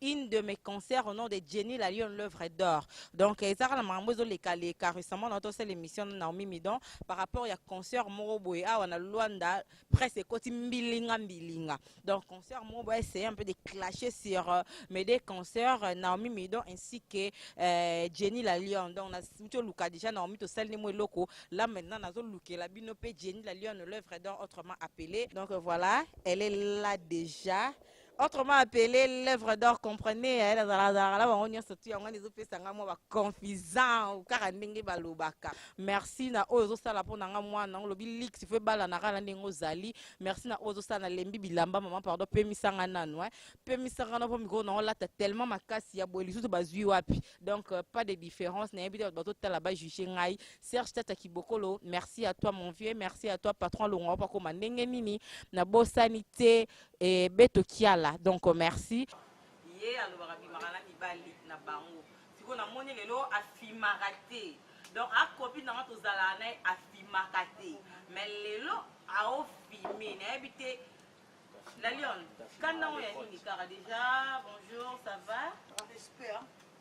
une de mes concerts au nom de Jenny la Lyon l'œuvre d'or. Donc euh, ezaka na makambo ezo leka leka récemment na tosala émission na Naomi Midon par rapport ya concert moko boye awa na Luanda presse ekoti mbilinga mbilinga. Donc concert moko boye essayer un peu de clasher sur euh, mes deux concerts euh, Naomi Midon ainsi que euh, Jenny la Lyon. Donc na mucho luka déjà Naomi to sali mo eloko là maintenant nazo lukela bino pe Jenny la Lyon l'œuvre d'or autrement appelée. Donc euh, voilà, elle est là déjà. autrement appelé l'œuvre d'or comprenez eh, nazalaka na bango nyonso tu yango wana ezopesa ngai mwa baconfisant kaka ndenge balobaka merci na oyo ozosala mpo na ngai mwana yango olobi lix fo ebalanaka na ndenge ozali merci na oyo ozosala nalembi bilamba mama pardon pemisa ngai nanu eh. pemisa ngai na mpo mikolo na olata tellement makasi ya boye lisusu bazwi wapi donc euh, pas de différence nayebi te bato bazotala bajuge ngai serge tata kibokolo merci à toi mon vieux merci à toi patron longo akoma ndenge nini nabosani te Et Beto Kiala, donc euh, merci. ye alobaka bimaka na mibali na bango sikoyo namoni lelo afimaka te donc akopi nanga tozalaka naye afimaka te mais lelo aofime nayebi te la lion kanda yango ya nini kaka deja bonjour ça va Respect, hein.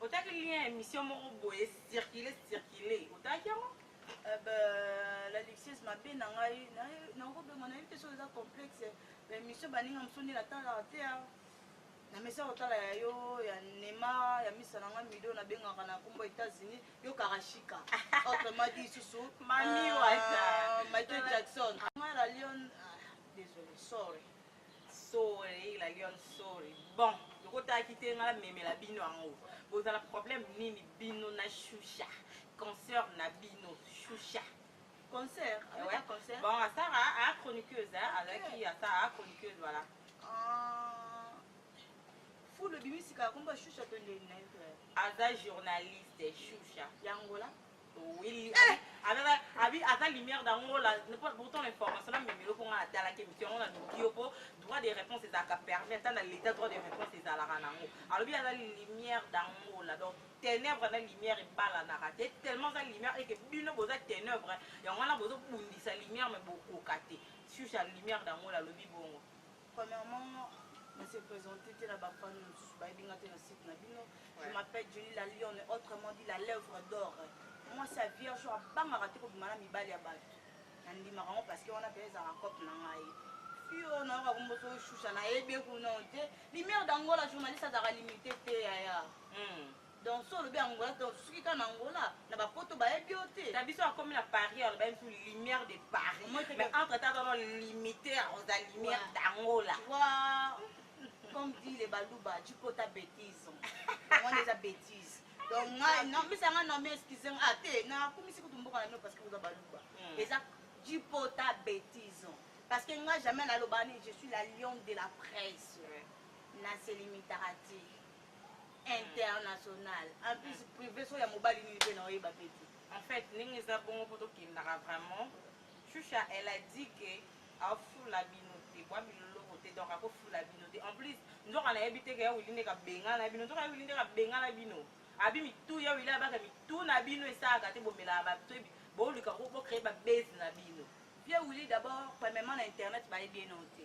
Otaki lien ya emission moko boye circule circule otaki yango Eh ben, la luxueuse mabe na ngai nakobengwa nayebi te soki eza complexe baémission baninga mosusu nde natalaka te ah. na mesa kotala ya yo ya nema ya misa na ngai mido nabengaka na nkombo états-unis yo karashika autrement dit lisusu mami euh, wata michael jackson ngai la lion ah, désolé sorry sorry la lion sorry bon lokotaki te nga namemela bino yango bozala problème nini bino na shusha concert na bino shusha concert eh ouais. concert bon asara a chroniqueuse okay. azalaki asa a chroniqueuse voilà ah. fulu bimisika komba shusha to nde aza journaliste shusha yangola Oui, eh! Aza abi aza lumière d'angola, pourtant l'information na memelo pour nga atala ke mitiyo na nokio po droit de réponse ezalaka permis ata na l'état droit de réponse ezalaka nango. Alobi aza lumière d'angola. Donc ténèbres na lumière ebalanaka te tellement aza lumière eke bino boza ténèbres yango wana bozobundisa lumière me bokoka te sur ya lumière d'angola alobi bongo Premièrement, na se présenter te na ba fans mosusu bayebi nga te na site na bino. Je m'appelle Jenny la Lionne, autrement dit la lèvre d'or. Mwasi ya vierge oyo abangaka te kobima na mibali ya bato. Nandimaka yango parce que wana mpe ezalaka cope na ngai. Fille oyo nayoka kombo soki shusha nayebi ye kuna te. Lumière d'Angola journaliste azalaka limite te yaya. Hmm. Donc so olobi Angola donc suki kaka na Angola na ba poto bayebi yo te. Na biso akomi na Paris aloba biso lumière de Paris. Mais entre temps tono limiter aux lumière d'Angola. Wa comme dit les baluba tu peux ta bêtise. On les a bêtises. Donc nga non mais ça nga non mais excusez moi ah te na kumisi kutu mboka na no parce que vous baluba. Hmm. Eza tu peux ta bêtise. Parce que nga jamais na lobani je suis la lionne de la presse. Na se limitera te. international en plus privé so ya mobali nini pe na oyeba pe te en fait ndenge eza bongo po tokendaka vraiment shusha elle a dit que afula bino te bwa biloloko te donc akofula bino te en plus nzoka nayebi te keya wili nde kabengana bino nzoka ya wili nde kabengana bino abi mitu ya wili abaka mitu na bino esalaka te bomelaka batoyebi bolika bocree babase na bino vie wili d'abord premièrement na internet bayebi ye nao te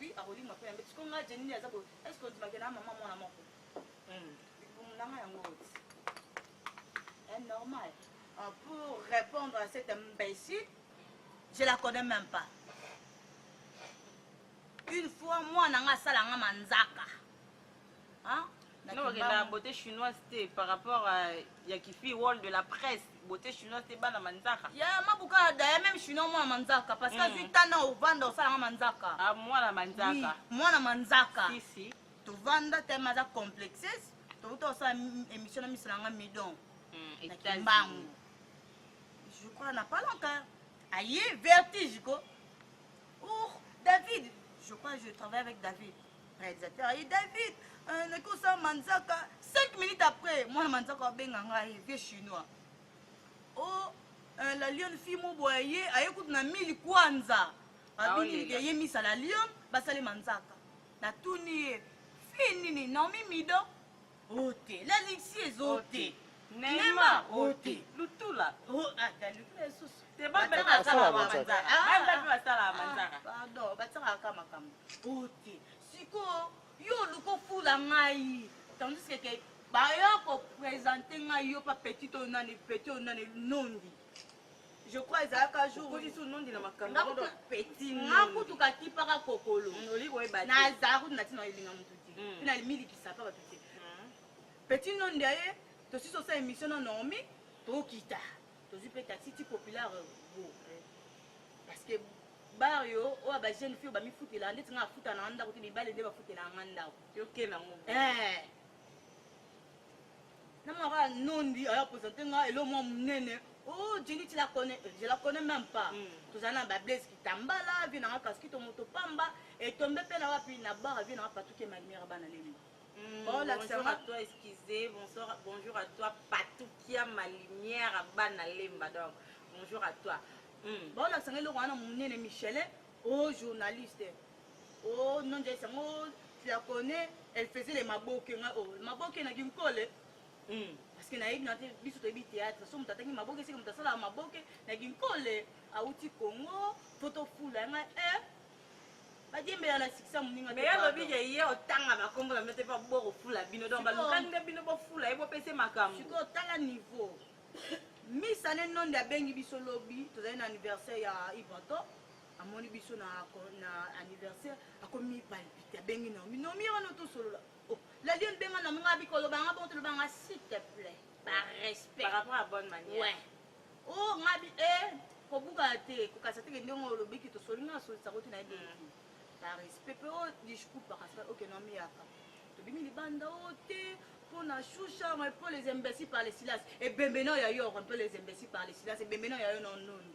Oui, akolinga pe yambe. Siko nga Jenny aza bo. Est-ce que ndimaka na maman mwana moko? Hmm. Libumu nanga yango oti. Est eh, normal. Ah, pour répondre à cette imbécile, je la connais même pas. Une fois mwana nga asala nga manzaka. Hein? Non, la beauté chinoise te par rapport à ya kifi wall de la presse beauté chinoise te bana manzaka ya mabuka da ya même chinois mwana manzaka parce que mm. azwi tana ovanda osalanga manzaka ah, mwana manzaka oui, mwana manzaka si, si. tovanda teme aza complexes towuta osala émission na miso na nga midon mm, na kimbangu je crois na pas longtemps aye vertige ko oh david je crois je travaille avec david Realisateur aye David euh, naki osala manzaka 5 minutes après mwana manzaka abenga ngai vieux chinois o oh, euh, la lionne fille moboya ye aye kutu na mili kwanza babinilike ah, ye misa la lionne basali manzaka natuni ye fille nini naomi mido ote laliksi ezote nema ote lutula basalaka makambo ote sikoyo yo oluka ofula ngai tandis keke baya kopresente ngai yo pa petit oyo nani petit oyo nani nondi je crois ezalaka jour okolisi onondi na makambo petit nga kutu kakipaka kokolo mm, oli koyeba te nazala kutu na ntina elinga motu te mm. mpe namilikisa mpa bato te mm. petit nondi aye tosisi osala émission na normi tokita tozwi mpe tatiti populaire go parce que bar yo oyo ba jeune fille bamifutela ndeti nga afuta na nga ndako te mibale nde bafutela nga ndako yokela ngo eh. na mwana kaka nondi aya presente nga elo mwa monene o oh, jeni ti la connais eh, je la connais même pas mm. tozali na bablaise kitambala vie nanga kaskito moto pamba etombe mpe na wapi na bara vie nanga patuke malimera bana lemba Mm, bonjour à toi excusez bonsoir bonjour à toi patukia ma lumière à bana lemba donc bonjour à toi mm. baolakisa nga eloko wana monene michele o oh, journaliste Oh non Joyce yango tu la connais elle faisait les maboke nga oh maboke na Ginkole hmm. parce que nayebi na te biso toyebi théâtre so moto atangi maboke esika moto asalaka maboke na Ginkole awuti Congo foto fula nga eh badiembela na sikisa moninga mais alobi ye ye otanga bakombo na bino te mpo bokofula bino donc balukani nde bino bofula ye bopese makambo sikoyo tala niveau misane nonde abengi biso lobi tozali na anniversaire ya ivanto amoni biso na, na anniversaire akomi palpite abengi naomi naomi ye wana tosolola oh, lalion benga naomi nga bikoloba nga bongo toloba nga s'il te plaît par respect par rapport à bonne manière ouais. oh nga bi e eh, kobukana te kokasa teke ndenge olobiki tosoli nga asolisa koti na ye bengi mm. par respect mpe o oh, discours par respect oke naomi yaka tobimi libanda o oh, te mpo na shusha un peu les imbéciles par les silas ebembe nao ya yo un peu les imbéciles par les silas ebembe nao ya yo na noni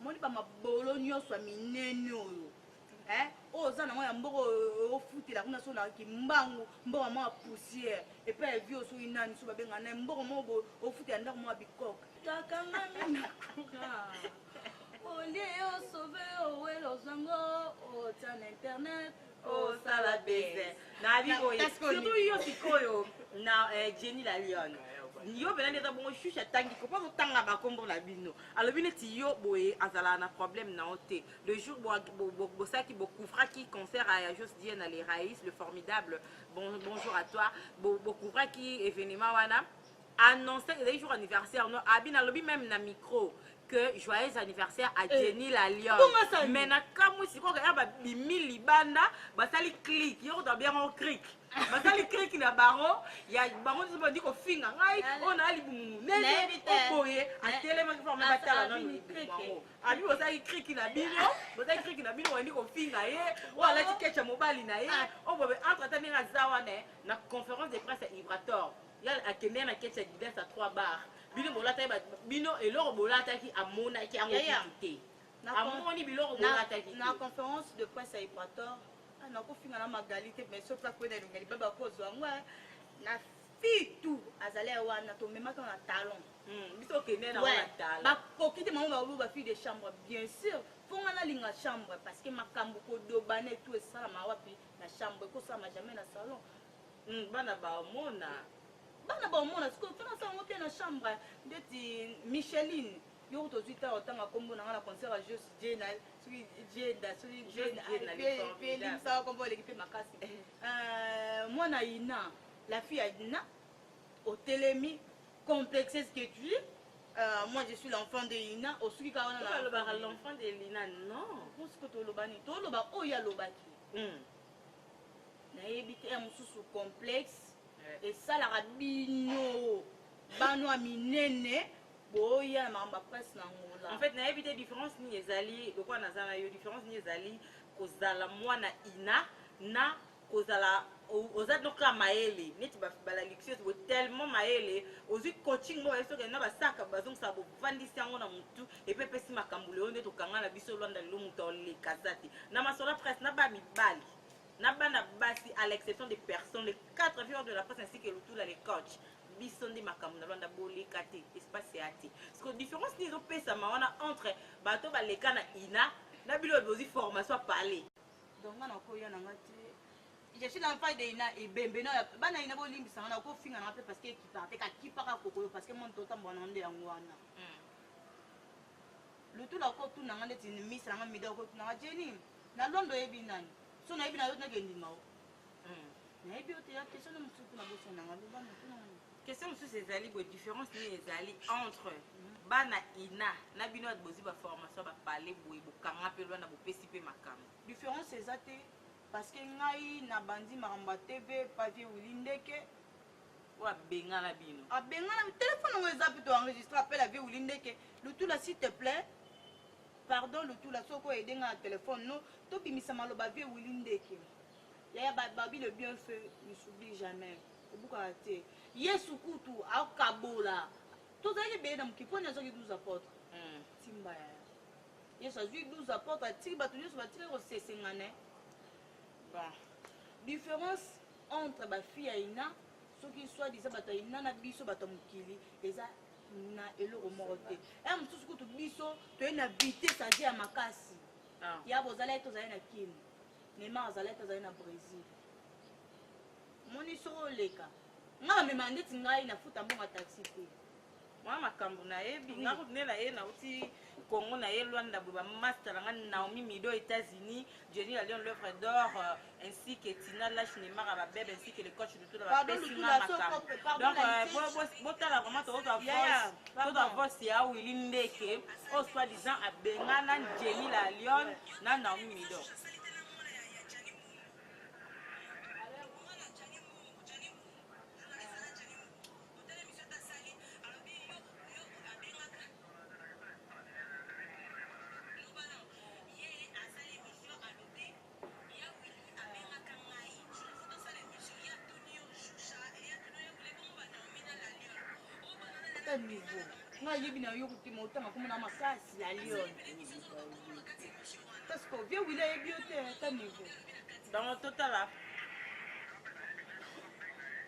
Omoni ba mabolo nionso ya minene oyo eh oyo oza nango ya mboka oyo ofutela kuna so na kimbangu mboka mwa poussière epai ya vieux soki nani so babenga na mboka mwa boye ofutela ndako mwa bikok kakangami na kura olie yo sauve yo owela ozango ota na internet Oh, sala baiser. Na bi boye. Parce que- Surtout yo sikoyo na eh, Jenny la Lionne. Yo bela nde eza bongo shusha atangi ko pako tanga ba kombo na bino. Alobi neti yo boye azala na problème na yo te. Le jour bo bo- bo- bosaki bo couvraki concert à Jos Dieu na les Raïs le formidable. Bon, bonjour à toi. Bo bo couvraki événement wana. annoncer que ezali jour anniversaire no abi nalobi meme na micro que joyeux anniversaire à Jenny eh. la lionne mais na kamwe sikoyo kaka babimi libanda basali click yoko to bien ngo click basali click na bango ya bango nso bandi kofinga ngai oyo naa libumu nene oboye atelemaki forme batala nanu bango abi bosali click na bino bosali click na bino bandi kofinga ye oyo alati kecha mobali na ye oyo bobe entre ata ndenge aza wana na conférence de presse ya ibrator ya akendeki na keti ya Adidas ya 3 bar bino bolataki ba, bino eloko bolataki amonaki yango kutu te amoni biloko bolataki te na conférence de presse ya Equateur ah, nakofinga na magali te mais soki akwenda elonga libaba akozwa yango eh. na fitu azali wana tomemaki na talon hmm, biso okende na wana talon bakoki te mama baobo ba fille de chambre bien sûr mpo nga nalinga chambre parce que makambo kodobana etu esalama wapi na chambre ekosalama jamais na salon Hum bana ba omona bana ba omona sikoyo mpo naza yango te na chambre ndeti micheline yo kutu ozwi ntango otanga nkombo na ngai na concert ya jos jena soki jenda soki jenaelimbisaka nkombo oleki mpe makasi eh. euh, mwana ina la fille ya ina otelemi complexe ce que tu es Euh, moi je suis l'enfant de ina osuki kaka wana alobaka l'enfant de lina non mosiko tolobani toloba oyo alobaki hmm. nayebi te ya mosusu complexe esalaka bino bano ya minene boya na makambo ya presse na ngola en fait nayebi te différence nini ezali lokola naza na yo différence nini ezali kozala mwana ina na kozala oza donc kaka mayele neti balalixieuse bo tellement mayele ozwi coaching moko bayebi soki na basaka bazongisa bovandisi yango na motu epe epesi makambo lelo nde tokanga na biso lwanda lelo moto aoleka aza te na masolo presse na ba mibali na bana basi à l'exception de personne les quatre vieurs de la presse ainsi que lutula le coach biso nde makambo na lwanda boleka te espace ya te parceque différence nde ezopesama wana entre bato baleka na ina na bino bozwi formation ya parler donc nga nakoya na nga te je suis dans pas de na ebembe na bana ina bolimbisa nga nakofinga na nga mpe parce que ekipaka te kakipaka kokoyo parce que moni totambola na nde yango wana lutuna ko tuna nga ndeti misa nga mida ko tuna nga jeni na londo yebi nani so na yebi na yo tuna ke ndima o hmm. na yebi o te ya question na musuku na boso na nga loba na tuna nga question mususu ezali bo différence ni ezali entre hmm. bana ina na bino ya bozi ba formation ba parler boye bokanga pe lwana bopesi pe makambo différence eza te parce que ngai na bandi makambo ya tv pavier wili ndeke Oyo abengana bino. Abengana bi telephone yango eza pito enregistre appel avie wili ndeke lutula s'il te plait pardon lutula soki o aide nga na telephone no to bimisa maloba vie wili ndeke yaya ba babi le bien fait ne s'oublie jamais ebukaka te yesu kutu akabola tozalaki ebele na mokili poni azwaki 12 apotre mm. timba yaya yesu azwi 12 apotre atiki bato nyonso batikaki kosesengane bon différence entre ba fille ya ina soki soit disant bato ya ina na biso bato ya mokili eza na eloko moko te ya mosusu kutu biso toye na vitesse aze ya makasi ah. ya bozala ye tozali na kini neymar azalaki te azali na brésil moni soko oleka ngai bamema ndeti ngai nafuta mbongo ya taxi te mwa makambu nayebi nga kutu nde naye nauti congo naye luanda boye ba masta na nga naomi mido états-unis jenny la lion l'œuvre d'or euh, ainsi que tina lash neymar ya babebe ainsi que le coach lutula bapesi nga makambo donc euh, bo- bo- botala vraiment tozwa voice tozwa voice ya wili ndeke oyo soit disant abengana jenny la lion na naomi mido ata niveau nga ayebi na yo kokima otanga komona makasi ya lion parce que vie wili ayebi yo te ata niveau donc totala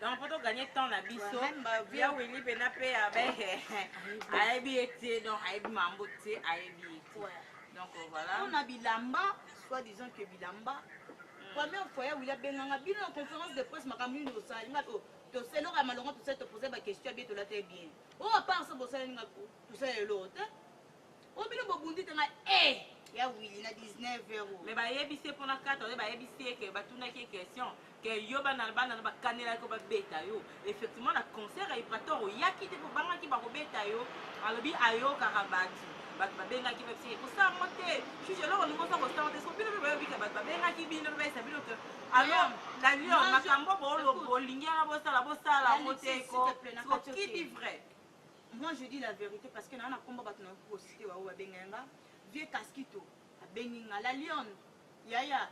donc poto gagne temps na biso ya wili pena mpe abe ayebi ye te donc ayebi mambo te ayebi ye te donc euh, voilà mpona bilamba soit disant que bilamba hmm. première fois ya wili abenganga bino na conférence de presse makambo nini osali nga oh, toseloka malonga tosali topose baquestion ya bie tolata ye bien o oh, apart so bosaleli nga tosala eloko te Oyo bino bobundi te ngai eh ya Willy na 19 heures. Mais bayebisi ye pona kata oye bayebisi ye ke batunaki ye question ke yo bana bana na bakanela ko babeta yo effectivement na concert ya Ibrator oyaki te po bangaki bakobeta yo alobi ayokaka batu bato babengaki bapesi ye kosala ngo te juge eloko olingi oza kosala te soki bino mpe boyebika bato babengaki bino mpe bayesa bino te alo na lyon makambo bolingi yana bosala bosala yango te ko kidi vrai Moi je dis la verite parce que na na kombo batu na ko citer wa ba benga nga vieux Casquito abengi nga la lionne yaya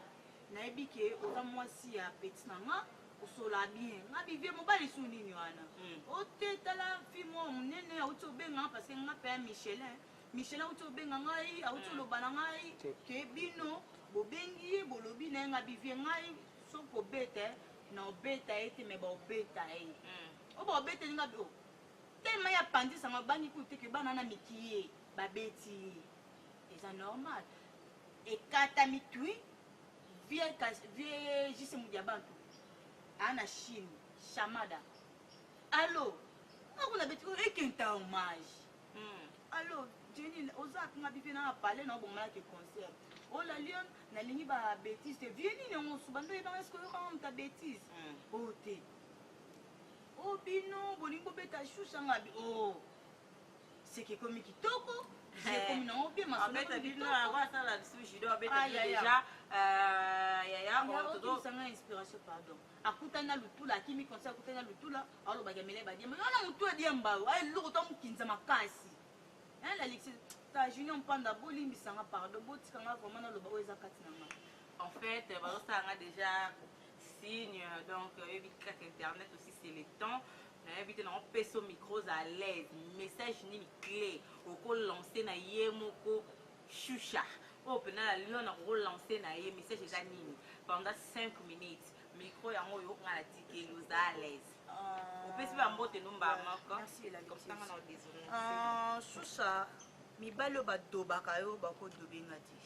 nayebi ke oza mwasi ya petit na nga osola bien nga bi vieux mobali su nini wana hmm. ote tala fille mwa munene auti obenga parce que nga pe Michelin Michelin auti obenga ngai auti hmm. oloba na ngai ke bino bobengi ye bolobi na ye nga bi vieux ngai soki obeta na obeta ye te me baobeta ye hmm. oyo baobeta ye nga bi oh. Tellement ye apanzi sango abangi kutu te que bana wana mikie babeti ye eza normal ekatami twi vieux JC Mudiabantu a na chine chamada allo nga kuna beti oyo ekenta hommage hmm. allo Jenny oza nga bivie na nga palais na obongana ke concert oh la lion nalingi ba betise te vie nini yango osuba nde oyebanga eske oyokanga moto ya betise oyo te Oh bino bolingi bobeta chou sa ngabi oh seke ekomi kitoko ekomi eh. nango mpe masolobeta bino yango asala lisusu judo abeta bino deja yayayanga inspiration pardon akutani na lutula akimi conseil akutani na lutula alobaki amele badiemba wana motu adiemba yo aye loko to mokinza makasi laliksi ta junior mpanda bolimbisanga pardon botikanga vraimen naloba oyo eza kati na nga en fait bazosala nga deja Signe donc oyebi kaka internet aussi c'est le temps nayebi te nango peso micros à l'aise message nini clé oko lancer na ye moko shusha oyo mpena na lion na koko lancer na ye message eza nini pendant 5 minutes micro yango oyo nga na tikeli oza à l'aise euh, opesi ba mbote numba moko komtanga na odesole euh, shusha mibali oyo badobaka yo bakodobe nga te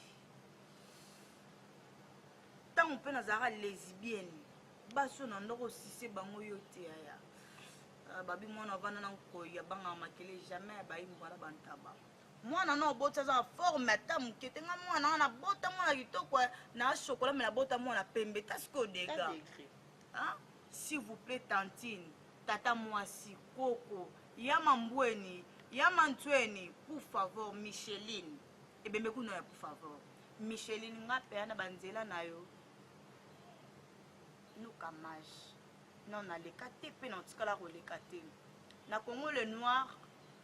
tango mpe nazalaka lesbienne basi oyo na ndoko osise bango yo te yaya ah, babi mwana avanda na nkoi abangaka makele jamais abayi mbwala bantaba mwana na oboti aza na forme ata moke te nga mwana wana abota mwana kitoko eh, na chokola me nabota mwana pembe tasiko dega ah, s'il vous plaît tantine tata mwasi koko ya mambweni ya manzweni pour favor micheline Ebembe kuna ya por favor. Micheline nga pea na ba nzela na yo luka mage non naleka te mpe natikala koleka te na congo le noir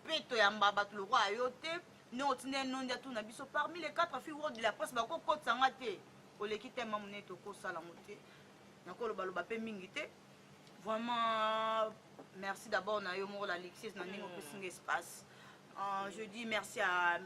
mpe toyamba bato lokola yo te nde otinda ye nondi atuna biso parmi les quatre filles world de la presse bakokotisa nga te oleki tema monene tokosala yango te nakolobaloba mpe mingi te Vraiment, merci d'abord na yo moko la Alexis na ndenge opesi nga espace. Euh, je dis merci à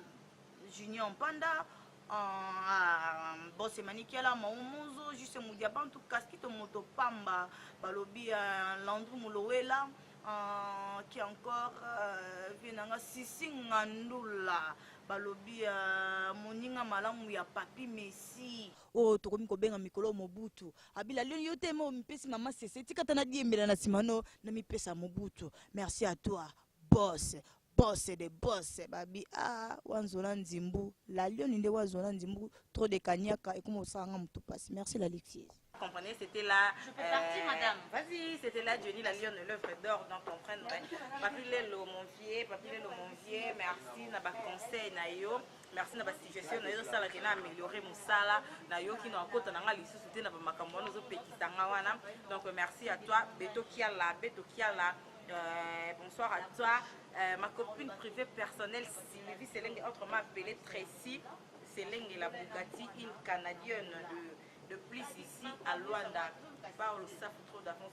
Junior Panda, euh, à Boss Emanikiala, Maumuzo, Juste Moudiabantu, Kaskito Moto Pamba, Balobi, euh, Landru Mulowela, euh, qui encore euh, Vienanga Sisi Ngandula, Balobi, euh, Moninga Malamu ya Papi Messi. oyo tokomi kobenga mikolo mobutu abila lelo yo te mo mipesi mama sese tika ata nadiembela na sima no namipesa mobutu merci à toi boss boss de boss babi ah wanzona nzimbu la lioni nde wazona nzimbu trop de kanyaka ekoma osala nga motu mpasi merci la lixise comprenez, c'était là. Je peux euh, partir, madame. Vas-y, c'était là, Johnny, la lionne, l'œuvre d'or, donc comprendre. Hein. Papilelo, mon vieux, Papilelo, mon vieux, merci, n'a pas conseil, naïo. merci na basuggestion na yo ezosala ke na ameliore mosala nayoki na akota na ngai lisusu te na bamakambo wana ozopekisa ngai wana donc merci à toi beto kiala beto kiala Euh, bonsoir à toi. Euh, ma copine privée personnelle Sylvie Selenge, autrement appelée Tracy Selenge, la Bugatti, une Canadienne de, de plus ici à Luanda. Paolo Safo, trop d'avance,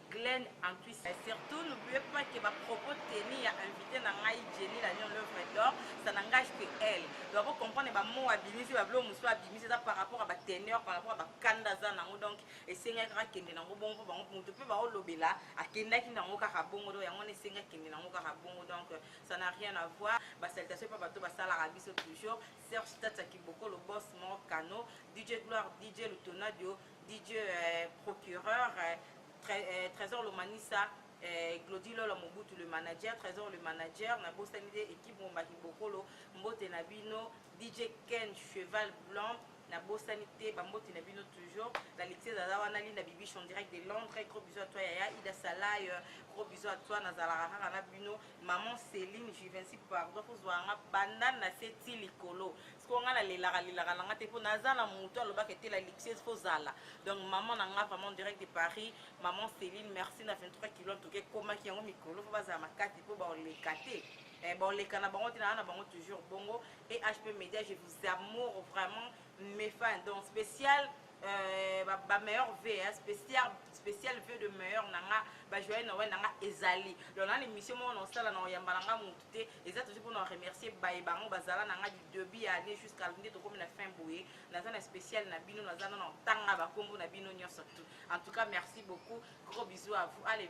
Glenn Antwi Saint. Surtout n'oubliez pas que ba propos tenus ya invite na ngai Jenny la Lion l'oeuvre d'or ça n'engage que elle. Donc ako comprendre ba mots abimisi ba biloko mosusu abimisi eza par rapport à ba teneurs par rapport à ba kanda aza na yango donc esengaki kaka akende na yango bongo mpo bango moto mpe baolobela akendaki na yango kaka bongo donc yango wana esengi akende na yango kaka bongo donc ça n'a rien à voir ba salutation mpe bato basalaka biso toujours Serge Tata Kibokolo boss moko kano DJ Gloire DJ Lutonadio Didieu eh, procureur eh, tre, eh, Trésor Lomanisa eh, Glody Lola Mobutu le manager Trésor le manager na bosani de équipe Mombaki Bokolo mbote na bino DJ Ken Cheval Blanc na bosani te bamboti na bino toujours la lecture aza wana linda bibiche en direct de londres gros bisous à toi yaya ida salay euh, gros bisous à toi nazalaka kaka na bino maman céline juvenci pardon kozwa nga banda na se ti likolo sikoyo ngai nalelaka lelaka na ngai te mpo naza na moto alobaka etela luxueuse fo zala donc maman na ngai vraiment direct de paris maman céline merci na 23 kilo antuka ekomaki yango mikolo mpo bazala makasi mpo baoleka te eh, baoleka na bango te naa na bango toujours bongo et hp média je vous amour vraiment mes fans donc spécial Euh, ba, ba meilleur v hein, spécial spécial v de meilleur nanga ba joyeux noël nanga ezali donc na l'émission moko na osala na oyamba nanga mutu te eza toujours pona na remercier baye bango bazala na nga du debut ya année jusqu'à nde tokomi na fin boye naza na spécial na bino naza na ntanga bakombo na bino nyonso tout en tout cas merci beaucoup gros bisous à vous allez